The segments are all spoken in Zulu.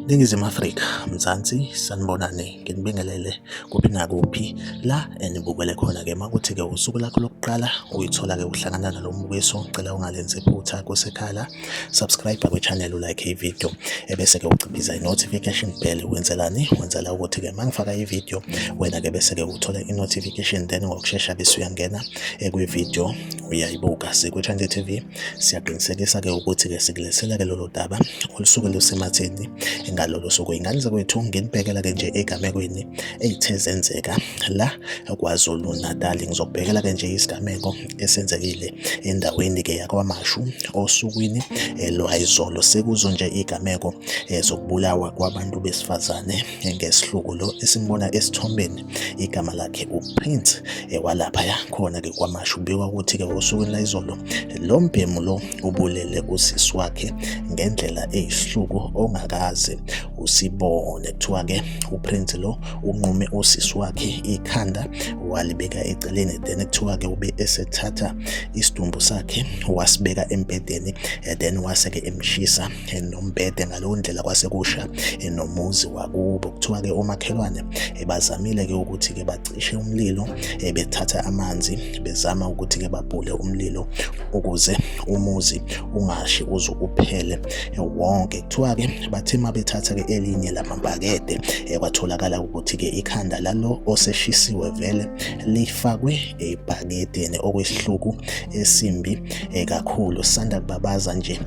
Ningizimu Afrika, Mzansi, sanibonani, nginibingelele kuphi nakuphi la enibukele khona-ke makuthi-ke usuku lakho lokuqala uyithola-ke uhlangana nalo mbukiso, ngicela ungalenzi iphutha kusekhala. subscribe kwi channel u like i video ebese ke uciphiza i notification bell wenzelani wenzela ukuthi ke mangifaka i video wena ke bese ke uthola i notification then ngokushesha bese uyangena ekwi video uyayibuka sikwi channel TV siyaqinisekisa ke ukuthi ke sikulethela ke lolu daba olusuke lusematheni ngalolo suku ingane zakwethu nginibhekela ke nje egamekweni eyithe zenzeka la kwaZulu Natal ngizokubhekela ke nje isigameko esenzekile endaweni ke yakwaMashu osukwini eh, lwayizolo sekuzo nje igameko eh, zokubulawa kwabantu besifazane eh, ngesihluku lo esimbona esithombeni igama lakhe uPrince walapha yakhona ke kwaMashu kubikwa ukuthi ke osukwini layizolo lo mbhemu lo ubulele usisi wakhe ngendlela eyisihluku ongakaze usibone kuthiwa ke uprince lo unqume usisi wakhe ikhanda walibeka eceleni then kuthiwa ke ube esethatha isidumbu sakhe wasibeka embedeni eh, then wase ke emshisa eh, nombhede ngaleyo ndlela kwase kusha eh, nomuzi wakubo kuthiwa ke omakhelwane bazamile ke ukuthi ke cishe umlilo eh, bethatha amanzi bezama ukuthi-ke babhule umlilo ukuze umuzi ungashi uze uphele eh, wonke kuthiwa-ke bathe uma bethatha-ke elinye lamabhakede eh, kwatholakala ukuthi-ke ikhanda lalo oseshisiwe vele lifakwe ebhakedeni okwesihluku esimbi kakhulu sanda kubabaza nje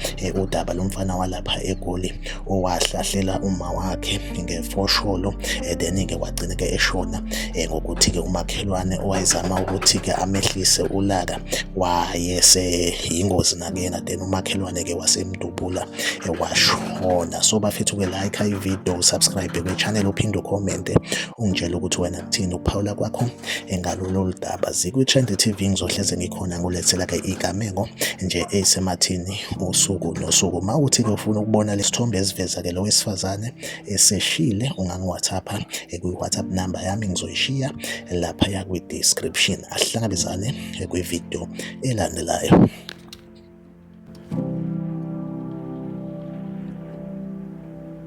udaba lomfana walapha egoli owahlahlela uma wakhe ngefosholo eh, then-ke wagcina-ke eshona eh, ngokuthi-ke umakhelwane owayezama ukuthi-ke amehlise ulaka wayese yingozi nakuyena then umakhelwane-ke wasemdubula eh, washona so bafethu-ke like ividiyo usubscribe kwi-channel uphinde ukhomente ungitshele ukuthi wena kuthini ukuphawula kwakho ngalolu daba zikwi-trend tv ngizohleze ngikhona ngulethela-ke igamengo nje eyisemathini usuku nosuku. Uma uthi-ke ufuna ukubona lesithombe esiveza-ke lo wesifazane eseshile, ungangi-WhatsApp-a kwi-WhatsApp number yami ngizoyishiya laphaya kwi-description. Asihlangabezane kwi-video elandelayo.